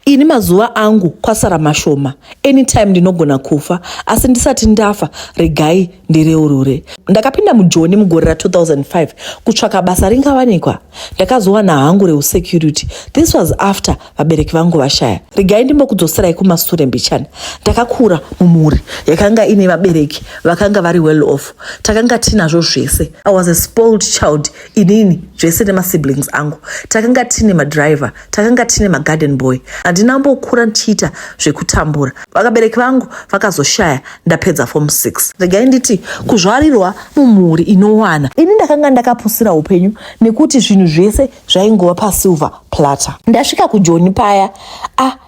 Ini mazuva angu kwasara mashoma, anytime ndinogona kufa asi ndisati ndafa regai ndireurure. Ndakapinda mujoni mugore ra 2005 kutsvaka basa ringawanikwa. Ndakazowana hangu reusecurity. This was after vabereki vangu vashaya. Regai ndimbokudzoserai kumasure mbichana. Ndakakura mumhuri yakanga ine vabereki vakanga vari well off. Takanga tinazvo zvese. I was a spoiled child inini zvese nemasiblings angu. Takanga tine madriver, takanga tine magarden boy handina mbokura ndichiita zvekutambura vakabereki vangu vakazoshaya ndapedza form 6 regai nditi kuzvarirwa mumhuri inowana ini ndakanga ndakapusira upenyu nekuti zvinhu zvese zvaingova pasilver plata ndasvika kujoni paya ah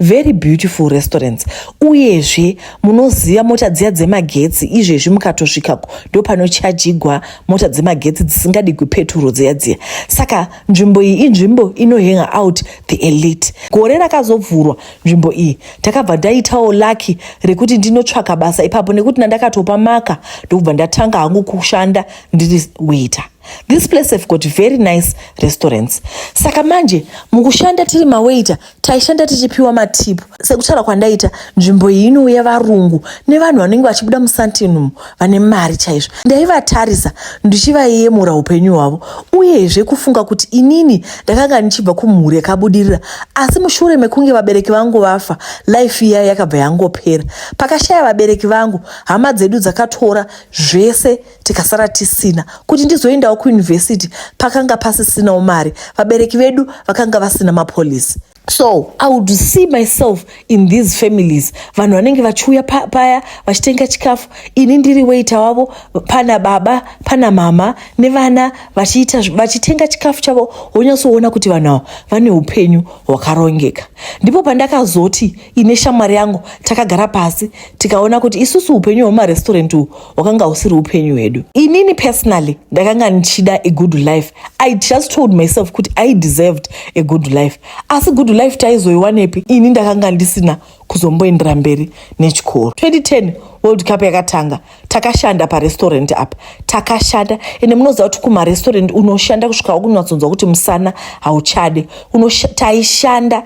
very beautiful restaurants uyezve munoziva mota dziya dzemagetsi izvezvi mukatosvikako ndopanochajigwa mota dzemagetsi dzisingadi kwepeturo dziya dziya saka nzvimbo iyi inzvimbo inohang out the elite gore rakazovhurwa nzvimbo iyi takabva ndaitawo laki rekuti ndinotsvaka basa ipapo nekuti nandakatopa maka ndokubva ndatanga hangu kushanda ndiri waiter this place have got very nice restaurants saka manje mukushanda tiri mawaiter taishanda tichipiwa matip sekutaura kwandaita nzvimbo iyi inouya varungu nevanhu vanenge vachibuda musantinum vane mari chaizvo ndaivatarisa ndichivayemura upenyu hwavo uyezve kufunga kuti inini ndakanga ndichibva kumhuri yakabudirira asi mushure mekunge vabereki vangu vafa life iya yakabva yangopera pakashaya vabereki vangu hama dzedu dzakatora zvese tikasara tisina kuti ndizoendawo kuyunivhesiti pakanga pasisinawo mari vabereki vedu vakanga vasina mapolisi so i would see myself in these families vanhu vanenge vachiuya paya vachitenga chikafu ini ndiri weita wavo pana baba pana mama nevana vachiita vachitenga chikafu chavo wonyatsoona kuti vanhu avo vane upenyu hwakarongeka ndipo pandakazoti ine shamwari yangu takagara pasi tikaona kuti isusu upenyu hwemaresturant uhu hwakanga husiri upenyu hwedu inini personally ndakanga ndichida a good life i just told myself kuti i deserved a good life asi good life taizoiwanepi ini ndakanga ndisina kuzomboendera mberi nechikoro 2010 world cup yakatanga takashanda parestaurant apa takashanda ende munoziva kuti kumarestaurant unoshanda kusvika wakunatsonzwa kuti musana hauchade taishanda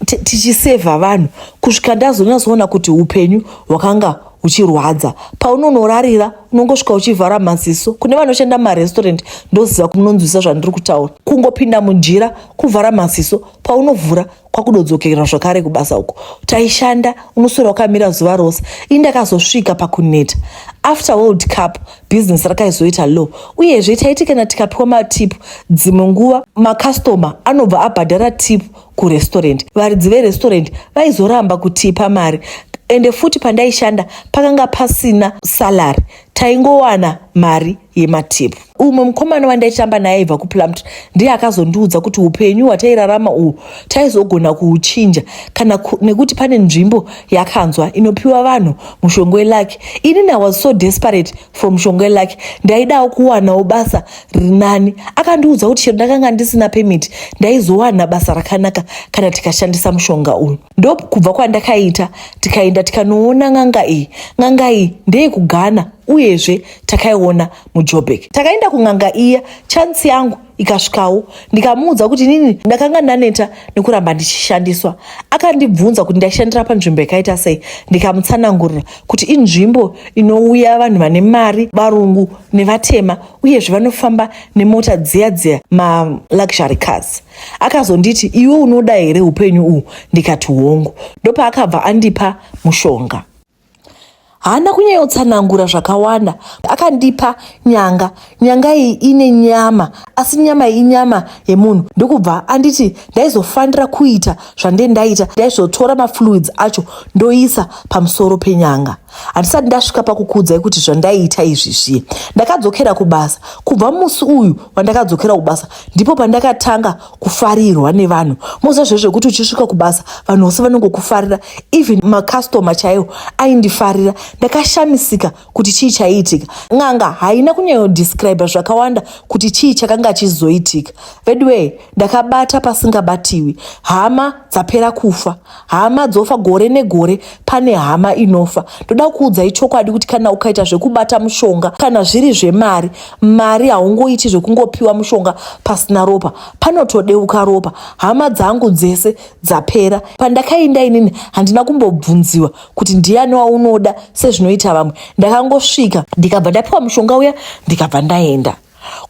tichisevha vanhu kusvika ndazonatsoona kuti upenyu hwakanga uchirwadza paunonorarira unongosvika uchivhara maziso kune vanoshanda mumarestaurant ndoziva kumunonzwisa zvandiri kutaura kungopinda munjira kuvhara maziso paunovhura kwakudodzokerera zvakare kubasa uko taishanda unoswera wakamira zuva rose ini ndakazosvika pakuneta after world cup business rakaizoita low uyezve taiti kana tikapiwa matipu dzimwe nguva makastoma anobva abhadhara tipu kurestorant varidzi verestorant vaizoramba kutipa mari ende futi pandaishanda pakanga pasina salary taingowana mari yematipu umwe mukomana wandaitamba naye aibva kuplumtr ndiye akazondiudza kuti upenyu hwatairarama uhu taizogona kuuchinja kana nekuti pane nzvimbo yakanzwa inopiwa vanhu mushongo welaki inini i was so desperate from shongwe lake ndaidawo kuwanawo basa rinani akandiudza kuti chero ndakanga ndisina pemiti ndaizowana basa rakanaka kana tikashandisa mushonga uyu ndo kubva kwandakaita tikaenda tikanoona n'anga iyi n'anga iyi ndeyekugana uyezve takaiona mujobek takaenda kun'anga iya chansi yangu ikasvikawo ndikamuudza kuti inini ndakanga ndaneta nekuramba ndichishandiswa akandibvunza kuti ndaishandira panzvimbo yakaita sei ndikamutsanangurira kuti inzvimbo inouya vanhu vane mari varungu nevatema uyezve vanofamba nemota dziya dziya maluxury cars akazonditi iwe unoda here upenyu uhu ndikati hongu ndopaakabva andipa mushonga haana kunyayotsanangura zvakawanda akandipa nyanga nyanga iyi ine nyama asi nyama iyi inyama yemunhu ndokubva anditi ndaizofanira kuita zvande ndaita ndaizotora mafluids acho ndoisa pamusoro penyanga handisati ndasvika pakukuudzai kuti zvandaiita izvi zviye ndakadzokera kubasa kubva musi uyu wandakadzokera kubasa ndipo pandakatanga kufarirwa nevanhu moziva zve zvekuti uchisvika kubasa vanhu vose vanongokufarira even macustoma chaiwo aindifarira ndakashamisika kuti chii chaiitika n'anga haina kunyanyodescribe zvakawanda kuti chii chakanga chizoitika veduwee ndakabata pasingabatiwi hama dzapera kufa hama dzofa gore negore pane hama inofa ndoda kuudzai chokwadi kuti kana ukaita zvekubata mushonga kana zviri zvemari mari haungoiti zvekungopiwa mushonga pasina ropa panotodeuka ropa hama dzangu dzese dzapera pandakainda inini handina kumbobvunziwa kuti ndiyani waunoda sezvinoita vamwe ndakangosvika ndikabva ndapiwa mushonga uya ndikabva ndaenda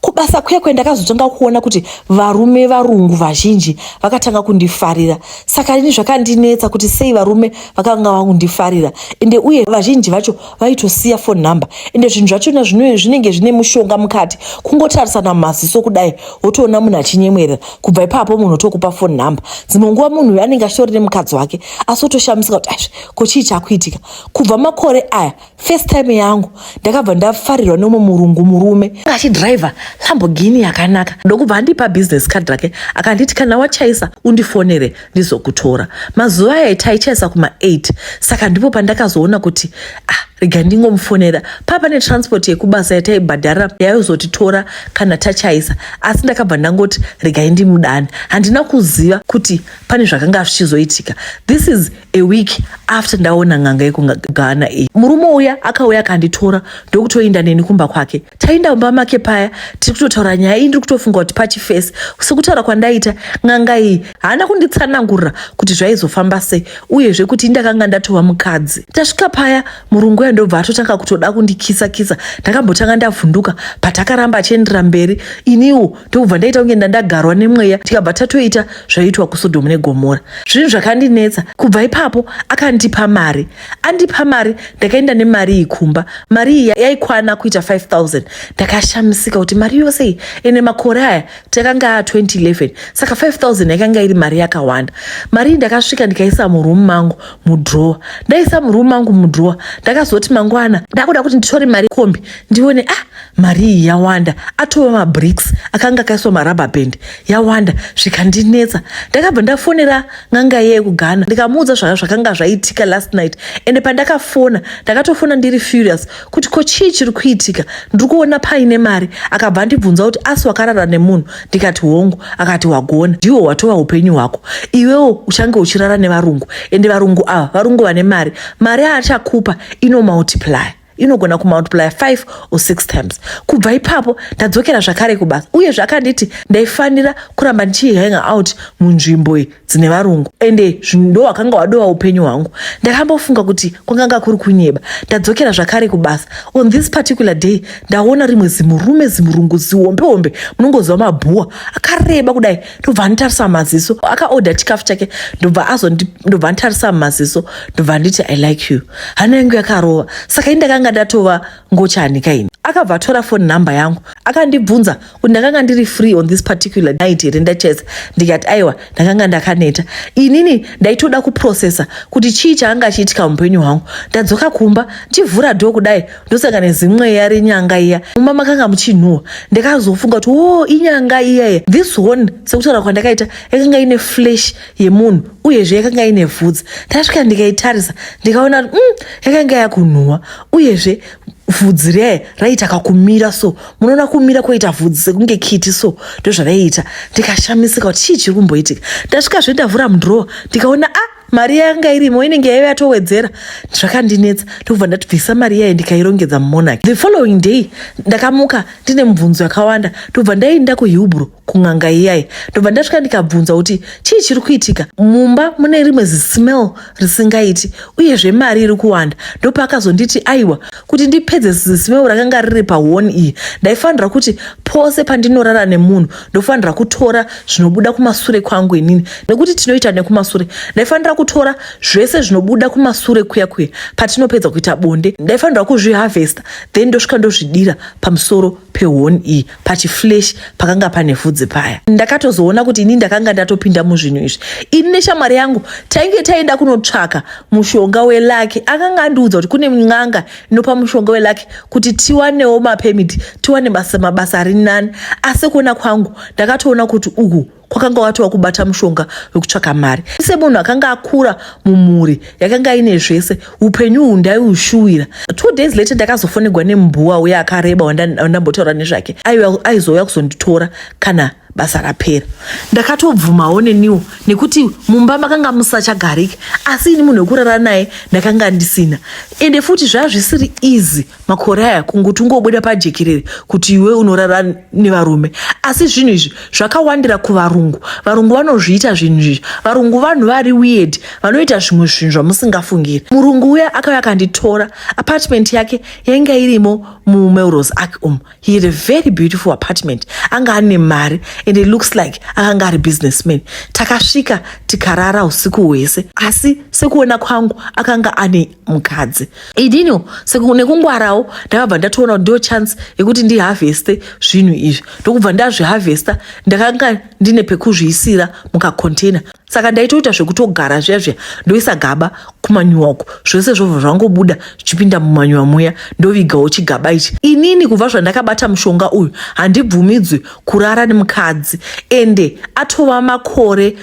kubasa kuya kuya ndakazotanga kuona kuti varume varungu vazhinji vakatanga kundifarira saka ini zvakandinetsa kuti sei varume vakanga vakundifarira ende uye vazhinji vacho vaitosiya phone number ende zvinhu zvachona zvino zvinenge zvine mushonga mukati kungotarisana mumaziso kudai wotoona munhu achinyemwerera kubva ipapo munhu otokupa phone number dzimwe nguva munhu uyo anenge achitori nemukadzi wake asi otoshamisika kuti aizvi ko chii chakuitika kubva makore aya first time yangu ndakabva ndafarirwa nomwe murungu murume achidriver lamborghini yakanaka ndokubva andipa business card rake akanditi kana wachaisa undifonere ndizokutora mazuva aya taichaisa kuma8 saka ndipo pandakazoona kuti ah rega ndingomufonera papa netransport yekubasa yataibhadhara yaizotitora kana tachaisa asi ndakabva ndangoti regai ndimudani handina kuziva kuti pane zvakanga zvichizoitika this is a week after ndaona n'anga yekugana iyi murume uya akauya akanditora ndokutoinda neni kumba kwake tainda mumba make paya tiri kutotaura nyaya iyi ndiri kutofunga kuti pachifesi sekutaura kwandaita n'anga iyi haana kunditsanangurira kuti zvaizofamba sei uyezve kuti indakanga ndatova mukadzi tasvika paya murungu uya ndobva atotanga kutoda kundikisa kisa ndakambotanga ndavhunduka patakaramba achiendera mberi iniwo ndokubva ndaita kunge ndandagarwa nemweya tikabva tatoita zvaiitwa kusodomu negomora zvinhu zvakandinetsa kubva ipapo akandipa mari andipa mari ndakaenda nemari iyi kumba mari iyi yaikwana kuita 5000 ndakashamisika kuti mari yose iyi ende makore aya takanga a 2011 saka 5000 yakanga iri mari yakawanda mari iyi ndakasvika ndikaisa muroom mangu mudrowa ndaisa muroom mangu mudrowa ndakazoti mangwana ndakuda kuti nditore mari kombi ndione ah mari iyi yawanda atova mabricks akanga akaiswa marubber band yawanda zvikandinetsa ndakabva ndafonera n'anga yeye kughana ndikamuudza zvaka zvakanga zvaitika last night ende pandakafona ndakatofona ndiri furious kuti ko chii chiri kuitika ndiri kuona paine mari akabva andibvunza kuti asi wakarara nemunhu ndikati hongu akati wagona ndiwo watova upenyu hwako iwewo uchange uchirara nevarungu ende varungu ava varungu vane mari mari aachakupa ino multiply inogona kumultiplya 5 or 6 times kubva ipapo ndadzokera zvakare kubasa uye zvakanditi ndaifanira kuramba ndichihanger out munzvimbo dzine varungu ende ndo wakanga wadova upenyu hwangu ndakambofunga kuti kwanganga kuri kunyeba ndadzokera zvakare kubasa on this particular day ndaona rimwe zimurume zimurungu zihombe hombe munongoziva mabhuwa akareba kudai ndobva anditarisa mumaziso akaodha chikafu chake ndobva azondi ndobva anditarisa mumaziso ndobva anditi i like you hana yangu yakarova saka ini ndakanga ndatova ngochani kaini akabva atora foni number yangu akandibvunza kuti ndakanga ndiri free on this particular night here ndachesa ndikati aiwa ndakanga ndakaneta inini ndaitoda kuprocessa kuti chii chaanga achiitika muupenyu hwangu ndadzoka kumba ndichivhura dho kudai ndosaka nezimweya renyanga iya muma makanga muchinhuwa ndakazofunga kuti o oh, inyanga iyaye this one sekutaura kwandakaita yakanga ine flesh yemunhu uyezve yakanga ine vhudzi ndasvika ndikaitarisa ndikaona kuti mm, yakanga yakunhuwa uyezve vhudzi riyaye raiita kakumira so munoona kumira kwoita vhudzi sekunge kiti so ndozvaraiita ndikashamisika kuti chii chiri kumboitika ndasvika zve ndavhura mudrowa ndikaona a ah, mari yanga irimo inenge yaive yatowedzera zvakandinetsa ndokubva ndatibvisa mari iyayo ndikairongedza mumonaki the following day ndakamuka ndine mubvunzo yakawanda ndobva ndaiinda kuhilbro kun'anga iyayi ndobva ndasvika ndikabvunza kuti chii chiri kuitika mumba mune rimwe zismell risingaiti uyezve mari iri kuwanda ndopaakazonditi aiwa kuti ndipedze zismell rakanga riri pahoni iyi ndaifanira kuti pose pandinorara nemunhu ndofanira kutora zvinobuda kumasure kwangu inini nekuti tinoita nekumasure ndaifanira kutora zvese zvinobuda kumasure kuya kuya patinopedza kuita bonde ndaifanira kuzviharvesta then ndosvika ndozvidira pamusoro pehoni iyi pachiflesh pakanga pane vhudzi paya ndakatozoona kuti ini ndakanga ndatopinda muzvinhu izvi ini neshamwari yangu tainge taenda kunotsvaka mushonga welaki akanga andiudza kuti kune n'anga nopa mushonga welaki kuti tiwanewo mapemiti tiwane basa mabasa ari nani asi kuona kwangu ndakatoona kuti uku kwakanga watova kubata mushonga wekutsvaka mari semunhu akanga akura mumhuri yakanga ine zvese upenyu uhu ndaiushuwira two days later ndakazofonegwa nembuwa uye akareba wandambotaura nezvake aizouya kuzonditora kana basa rapera ndakatobvumawo neniwo nekuti mumba makanga musachagariki asi ini munhu wekurara naye ndakanga ndisina ende futi zvaa zvisiri easy makore aya kunguti ungobuda pajekerere kuti iwe unorara nevarume asi zvinhu izvi zvakawandira kuvarungu varungu vanozviita zvinhu izvi varungu vanhu vari weird vanoita zvimwe zvinhu zvamusingafungiri murungu uya akauya akanditora apartment yake yainge irimo mumelros ark um he had a very beautiful apartment anga ane mari and it looks like akanga ari businessman takasvika tikarara usiku hwese asi sekuona kwangu akanga ane mukadzi idino nekungwarawo ndakabva ndatoona kuti ndo chance yekuti ndiharveste zvinhu izvi ndokubva ndazviharvesta ndakanga ndine pekuzviisira mukacontainer saka ndaitoita zvekutogara zviya zviya ndoisa gaba kumanyuwa uko zvese zvobva zvangobuda zvichipinda mumanyuwa muya ndovigawo chigaba ichi inini kubva zvandakabata mushonga uyu handibvumidzwi kurara nemukadzi ende atova makore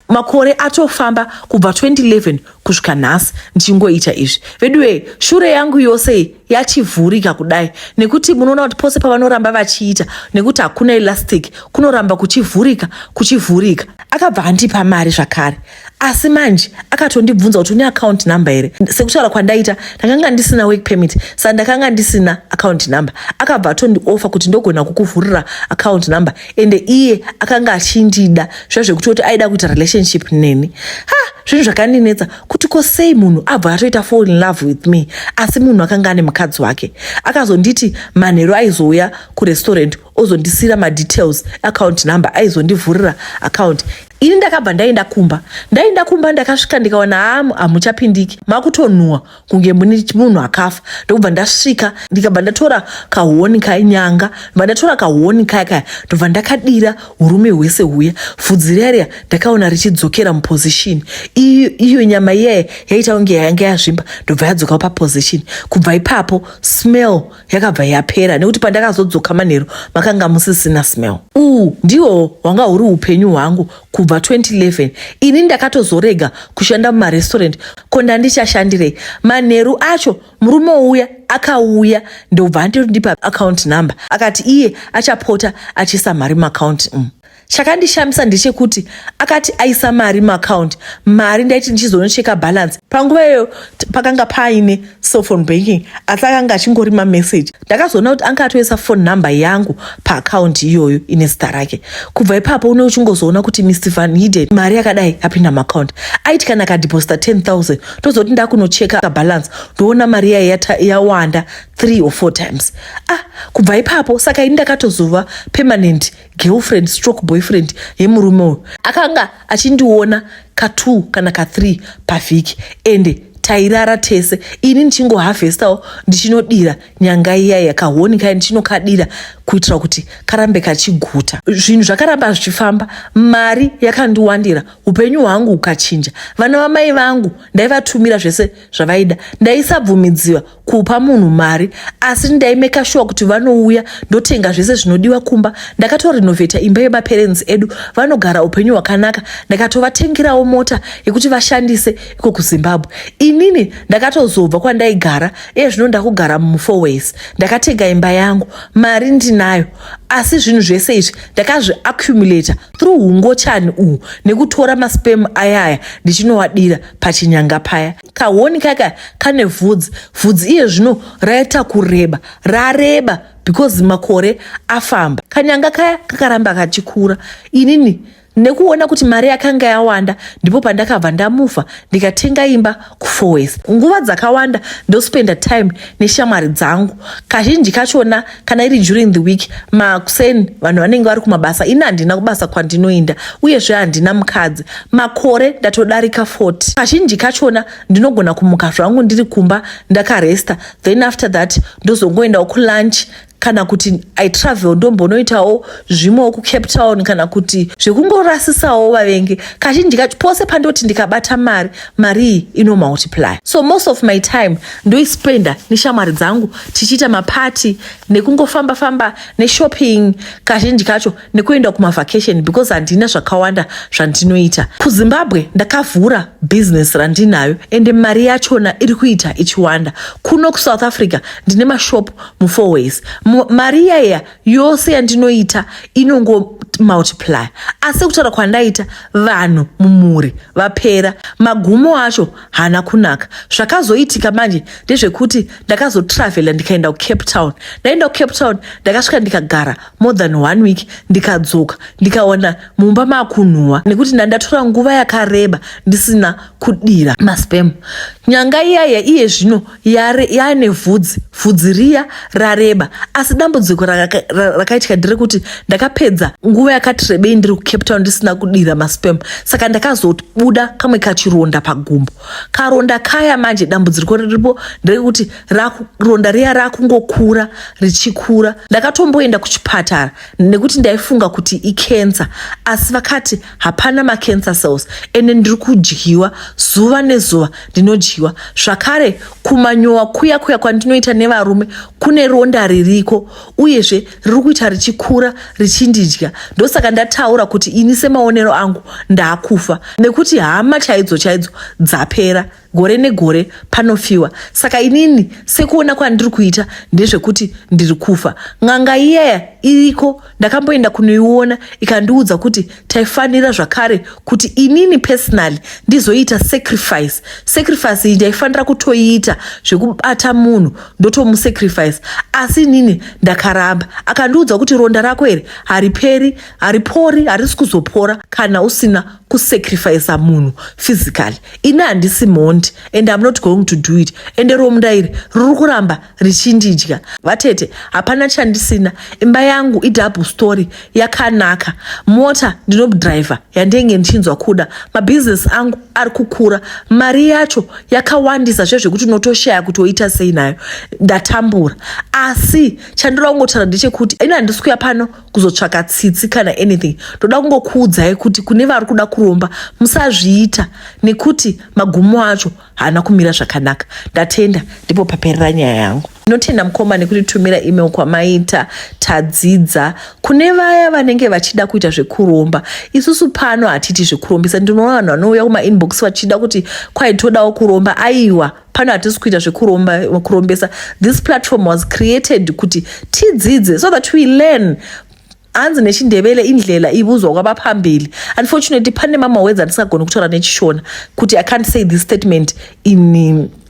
makore atofamba kubva 2011 kusvika nhasi ndichingoita izvi veduwee shure yangu yose yachivhurika kudai nekuti munoona kuti pose pavanoramba vachiita nekuti hakuna elastic kunoramba kuchivhurika kuchivhurika akabva andipa mari zvakare asi manje akatondibvunza kuti une account number here sekutaura kwandaita ndakanga ndisina work permit sa ndakanga ndisina account number akabva atondiofa kuti ndogona kukuvhurira account number ende iye akanga achindida zviya zvekuti kuti aida kuita relationship neni ha zvinhu zvakandinetsa kuti ko sei munhu abva atoita fall in love with me asi munhu akanga ane mukadzi wake akazonditi manheru aizouya kurestaurant ozondisiyira madetails account number aizondivhurira account ini ndakabva ndaenda kumba ndaenda kumba ndakasvika ndikaona hamu hamuchapindiki makutonhuwa kunge mune munhu akafa ndokubva ndasvika ndikabva ndatora kahoni kainyanga bva ndatora kahoni kaya kaya ndobva ndakadira urume hwese huya vhudzi riya ndakaona richidzokera muposition iyo nyama iyaye yaita kunge yanga yazvimba ndobva yadzokawo paposition kubva ipapo smell yakabva yapera nekuti pandakazodzoka manheru makanga musisina smell uu ndiwo hwanga huri upenyu hwangu kubva 2011 ini ndakatozorega kushanda mumarestaurant ko ndandichashandirei manheru acho murume uya akauya ndobva andipa account number akati iye achapota achiisa mari muaccount um mm. Chakandishamisa ndechekuti akati aisa mari muaccount mari ndaiti ndichizonocheka balance panguva iyoyo pakanga paine cellphone banking asi akanga achingori mamessage ndakazoona kuti anga atoisa phone number yangu paaccount iyoyo ine zita rake kubva ipapo une uchingozoona kuti mr van hiden mari yakadai apinda muaccount aiti kana akadeposita 10000 tozoti ndakunocheka balance ndoona mari yaye yawanda 3 or 4 times ah kubva ipapo saka ini ndakatozova permanent girlfriend stroke boyfriend yemurume uyu akanga achindiona katwo kana kathree pavhiki ende tairara tese ini ndichingohavhestawo ndichinodira nyanga iya yakahoni kai ndichinokadira kuitira kuti karambe kachiguta zvinhu zvakaramba zvichifamba mari yakandiwandira upenyu hwangu hukachinja vana vamai vangu ndaivatumira zvese zvavaida ndaisabvumidziwa kupa munhu mari asi ndaimeka shuwa kuti vanouya ndotenga zvese zvinodiwa kumba ndakatorenovheta imba yemaperenzi edu vanogara upenyu hwakanaka ndakatovatengerawo mota yekuti vashandise iko kuzimbabwe inini ndakatozobva kwandaigara iye zvino ndakugara mumufoways ndakatenga imba yangu mari ndinayo asi zvinhu zvese izvi ndakazviaccumulata through ungochani uhu nekutora maspem ayaya ndichinowadira pachinyanga paya kahoni kaka kane vhudzi vhudzi iye zvino raita kureba rareba because makore afamba kanyanga kaya kakaramba kachikura inini nekuona kuti mari yakanga yawanda ndipo pandakabva ndamufa ndikatenga imba kufowes nguva dzakawanda ndospenda time neshamwari dzangu kazhinji kachona kana iri during the week makuseni vanhu vanenge vari kumabasa ini handina kubasa kwandinoenda uyezve handina mukadzi makore ndatodarika 40 kazhinji kachona ndinogona kumuka zvangu ndiri kumba ndakaresta then after that ndozongoendawo kulunch kana kuti i travel ndombonoitawo zvimwewo kucape town kana kuti zvekungorasisawo vavengi kazhinji kacho pose pandoti ndikabata mari marii ino multiply so most of my time ndoispenda neshamwari dzangu tichiita mapati nekungofamba famba neshopping kazhinji kacho nekuenda kumavacation because handina zvakawanda zvandinoita kuzimbabwe ndakavhura business randinayo ende mari yachona iri kuita ichiwanda kuno kusouth africa ndine mashop mufourways mari iyaiya yose yandinoita inongo multiply asi kutaura kwandaita vanhu mumhuri vapera magumo acho haana kunaka zvakazoitika manje ndezvekuti ndakazotravela ndikaenda kucape town ndaenda kucape town ndakasvika ndikagara more than one week ndikadzoka ndikaona mumba maakunhuwa nekuti ndandatora nguva yakareba ndisina kudira maspem nyanga iyaya iye zvino yari yaine vhudzi vhudzi riya rareba asi dambudziko rakaitika ndere kuti ndakapedza nguva yakati rebei ndiri kucape town ndisina kudira maspem saka ndakazobuda kamwe kachironda pagumbo karonda kaya manje dambudziko riripo nderekuti ronda riya rakungokura richikura ndakatomboenda kuchipatara nekuti ndaifunga kuti ikensa asi vakati hapana macancer cells ende ndiri kudyiwa zuva nezuva ndinodyiwa zvakare kumanyowa kuya kuya kwandinoita nevarume kune ronda ririko uyezve riri kuita richikura richindidya ndosaka ndataura kuti ini semaonero angu ndaakufa nekuti hama chaidzo chaidzo dzapera gore negore panofiwa saka inini sekuona kwandiri kuita ndezvekuti ndiri kufa n'anga iyaya iriko ndakamboenda kunoiona ikandiudza kuti taifanira zvakare kuti inini personally ndizoita sacrifice sacrifice iyi ndaifanira kutoiita zvekubata munhu ndotomusacrifice asi inini ndakaramba akandiudza kuti ronda rako here hariperi haripori harisi kuzopora kana usina kusacrifice munhu physically ini handisi mhondi and im not going to do it ende romda iri riri kuramba richindidya vatete hapana chandisina imba yangu idouble story yakanaka mota ndinodriver yandenge ndichinzwa kuda mabhizinesi angu ari kukura mari yacho yakawandisa zve zvekuti unotoshaya kuti oita sei nayo ndatambura asi chandinoda kungotaura ndechekuti ini handisi kuya pano kuzotsvaka tsitsi kana anything ndoda kungokuudzai kuti kune vari kuda kuromba musazviita nekuti magumo acho haana kumira zvakanaka ndatenda ndipo paperera nyaya yangu ndinotenda mukoma nekutitumira email kwamaita tadzidza kune vaya vanenge vachida kuita zvekuromba isusu pano hatiti zvekurombisa ndinoona vanhu vanouya kumainbox vachida kuti kwaitodawo kuromba aiwa pano hatisi kuita zvekurombesa this platform was created kuti tidzidze so that we learn hanzi nechindevele indlela ibuzwa kwaba pambili unfortunately pane mama wedzi andisagoni kutaura nechishona kuti i can't say this statement in,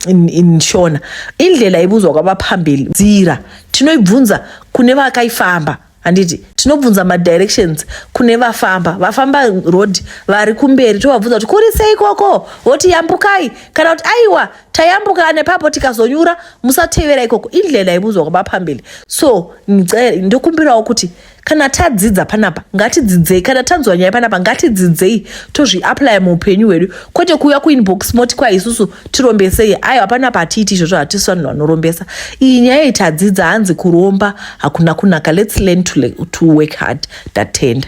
in, in shona indlela ibuzwa kwaba pambili dzira tinoibvunza kune vakaifamba handiti tinobvunza madirections kune vafamba vafamba road vari kumberi tovabvunza kuti kuri sei ikoko voti yambukai kana kuti aiwa tayambuka nepapo tikazonyura musatevera ikoko indlela ibudzwa kwamapambili so ndokumbirawo kuti kana tadzidza panapa ngatidzidzei kana tanzwa nyaya panapa ngatidzidzei tozviaplya muupenyu hwedu kwete kuuya kuinbox moti kwa isusu tirombesei aiwa panapa hatiiti izvozvo hatisi vanhu vanorombesa iyi nyaya iyi tadzidza hanzi kuromba hakuna kunaka let's learn to, to work hard tatenda